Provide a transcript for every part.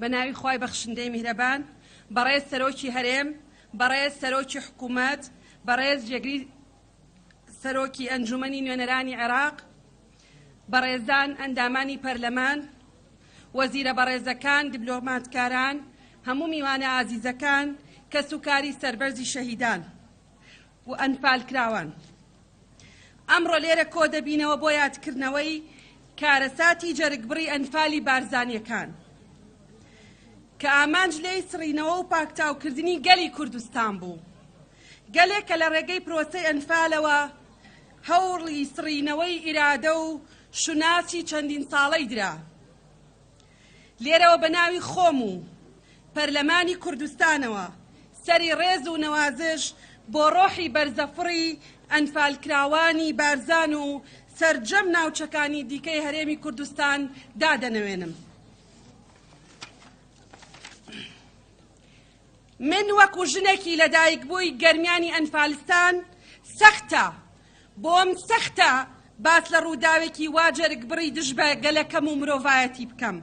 بە ناوی خی بەخشندەی میهرەبان بەڕێز سەرۆکی هەرێم بەڕێز سەرۆکی حکوومەت بەڕێز جێگری سەرۆکی ئەنجومنی نوێنەرانی عێراق بەڕێزان ئەندامانی پەرلەمان، وەزیرە بەڕێزەکان، دبلۆماتکاران، هەموو میوانە ئازیزەکان، کەس و کاری سەربەرزی شەهیدان و ئەنفالکراوان. ئەمڕۆ لێرە کۆ دەبینەوە بۆ یادکردنەوەی کارەساتی جەرگبڕی ئەنفالی بارزانیەکان کە ئامانج لێی سڕینەوە و پاکتاوکردنی گەلی کوردستان بوو. گەلێک کە لە ڕێگەی پرۆسەی ئەنفالەوە هەوڵی سڕینەوەی ئیرادە و شوناسی چەندین ساڵەی درا. لێرەوە بە ناوی خۆم و پەرلەمانی کوردستانەوە سەری ڕێز و نەوازش بۆ ڕۆحی بەرزەفڕی ئەنفالکراوانی بارزان و سەرجەم ناوچەکانی دیکەی هەرێمی کوردستان دادەنەوێنم. من وەکو ژنێکی لەدایکبووی گەرمیانی ئەنفالستان سەختە بۆم سەختە باس لە ڕووداوێکی وا جەرگبڕی دژ بە گەلەکەم و مرۆڤایەتی بکەم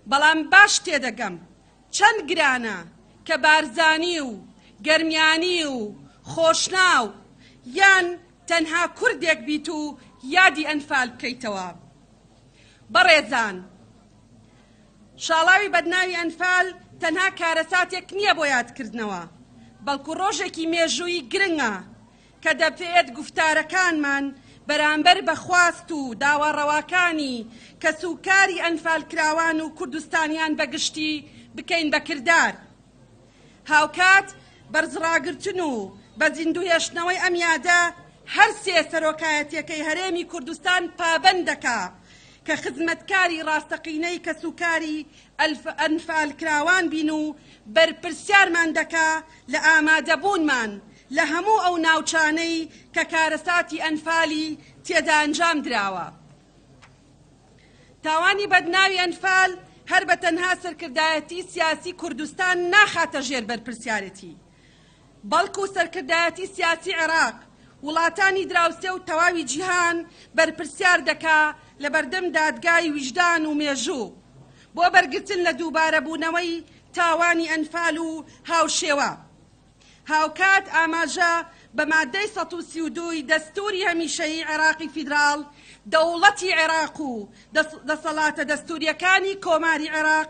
بەڵام باش تێدەگەم چەند گرانە کە بارزانی و گەرمیانی و خۆشناو یان تەنها کوردێک بیت و یادی ئەنفال بکەیتەوە بەڕێزان شاڵاوی بەدناوی ئەنفال تەنها کارەساتێک نییە بۆ یادکردنەوە، بەڵکو ڕۆژێکی مێژوویی گرنگە کە دەبێت گوفتارەکانمان بەرامبەر بە خواست و داوا ڕەواکانی کەسوکاری ئەنفالکراوان و کوردستانیان بە گشتی بکەین بە کردار. هاوکات بەرزڕاگرتن و بە زیندووهێشتنەوەی ئەم یادە هەر سێ سەرۆکایەتییەکەی هەرێمی کوردستان پابەند دەکا کە خزمەتکاری ڕاستەقینەی کەسوکاری ئەنفالکراوان بین و بەرپرسیارمان دەکا لە ئامادەبوونمان لە هەموو ئەو ناوچانەی کە کارەساتی ئەنفالی تێدا ئەنجام دراوە. تاوانی بەدناوی ئەنفال هەر بە تەنها سەرکردایەتی سیاسی کوردستان ناخاتە ژێر بەرپرسیارێتی، بەڵکو سەرکردایەتی سیاسی عێراق وڵاتانی دراوسێ و تەواوی جیهان بەرپرسیار دەکا لەبەردەم دادگای ویژدان و مێژوو بۆ بەرگرتن لە دووبارەبوونەوەی تاوانی ئەنفال و هاوشێوە هاوکات ئاماژە بە مادەی سەد و سی و دوو ی دەستووری هەمیشەیی عێراقی فیدراڵ، دەوڵەتی عێراق و دەسەڵاتە دەستوورییەکانی کۆماری عێراق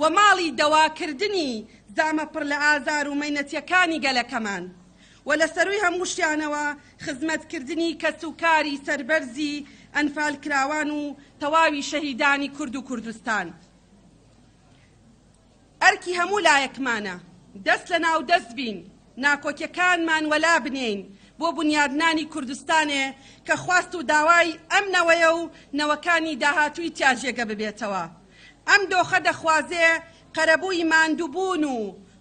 و ماڵی دەواکردنی زامە پڕ لە ئازار و مەینەتیەکانی گەلەکەمان و لە سەروی هەمووشیانەوە خزمەتکردنی کەس و کاری سەربەرزی ئەنفالکراوان و تەواوی شەهیدانی کورد و کوردستان ئەرکی هەموو لایەکمانە دەست لە ناو دەست بین ناکۆکیەکانمان وەلا بنێین بۆ بنیادنانی کوردستانێ کە خواست و داوای ئەم نەوەیە و نەوەکانی داهاتووی تیا جێگە ببێتەوە. ئەم دۆخە دەخوازێ قەرەبووی ماندووبوون و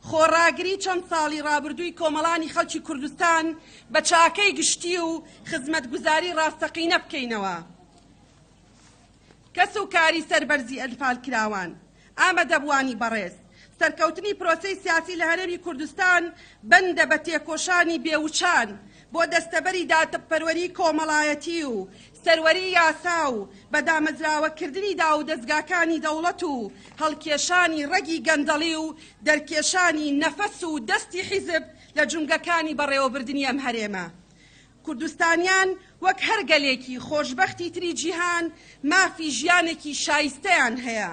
خۆڕاگری چەند ساڵی ڕابردووی کۆمەڵانی خەڵکی کوردستان بە چاکەی گشتی و خزمەتگوزاری ڕاستەقینە بکەینەوە. کەس و کاری سەربەرزی ئەنفالکراوان، ئامەدەبووانی بەڕێز، سەرکەوتنی پرۆسەی سیاسی لە هەرێمی کوردستان بەندە بە تێکۆشانی بێ وچان بۆ دەستەبەری دادپەروەری کۆمەڵایەتی و سەروەری یاسا و بە دامەزراوەکردنی داوودەزگاکانی دەوڵەت و هەڵکێشانی ڕەگی گەندەڵی و دەرکێشانی نەفەس و دەستی حیزب لە جومگەکانی بەڕێوەبردنی ئەم هەرێمە کوردستانیان وەک هەر گەلێکی خۆشبەختی تری جیهان مافی ژیانێکی شایستەیان هەیە،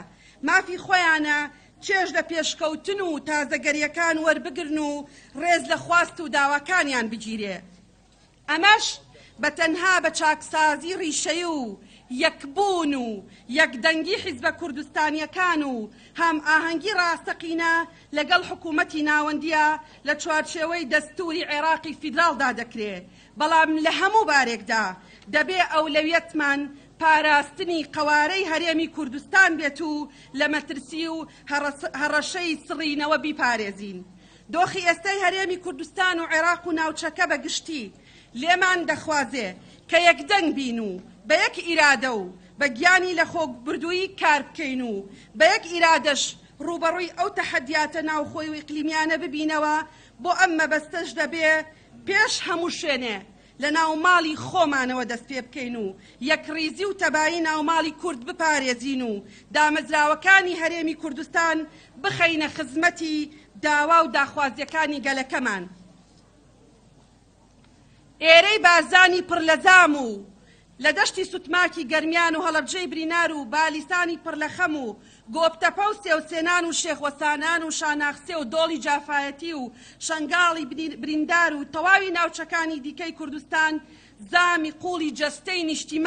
مافی خۆیانە چێژ لە پێشکەوتن و تازەگەریەکان وەربگرن و ڕێز لە خواست و داواکانیان بگیرێ. ئەمەش بە تەنها بە چاکسازی ڕیشەیی و یەکبوون و یەکدەنگی حیزبە کوردستانیەکان و هامئاهەنگی ڕاستەقینە لەگەڵ حکوومەتی ناوەندییە لە چوارچێوەی دەستووری عێراقی فیدراڵدا دەکرێ، بەڵام لە هەموو بارێکدا دەبێ ئەولەویەتمان پاراستنی قەوارەی هەرێمی کوردستان بێت و لە مەترسی و هەڕەشەی سڕینەوە بیپارێزین. دۆخی ئێستای هەرێمی کوردستان و عێراق و ناوچەکە بە گشتی لێمان دەخوازێ کە یەکدەنگ بین و بە یەک ئیرادە و بە گیانی لەخۆبردوویی کار بکەین و بە یەک ئیرادەش ڕووبەڕووی ئەو تەحەدیاتە ناوخۆی و ئیقلیمیانە ببینەوە، بۆ ئەم مەبەستەش دەبێ پێش هەموو شوێنێ لە ناوماڵی خۆمانەوە دەست پێ بکەین و یەکڕیزی و تەبایی ناوماڵی کورد بپارێزین و دامەزراوەکانی هەرێمی کوردستان بخەینە خزمەتی داوا و داخوازیەکانی گەلەکەمان. ئێرەی بارزانی پڕ لە زام و لە دەشتی سوتماکی گەرمیان و هەڵەبجەی برینار و بالیسانی پڕ لە خەم و گۆپتەپە و سێوسێنان و شێخ وەسانان و شاناخسێ و دۆڵی جافایەتی و شەنگاڵی بریندار و تەواوی ناوچەکانی دیکەی کوردستان زامی قوڵی جەستەی نیشتیمان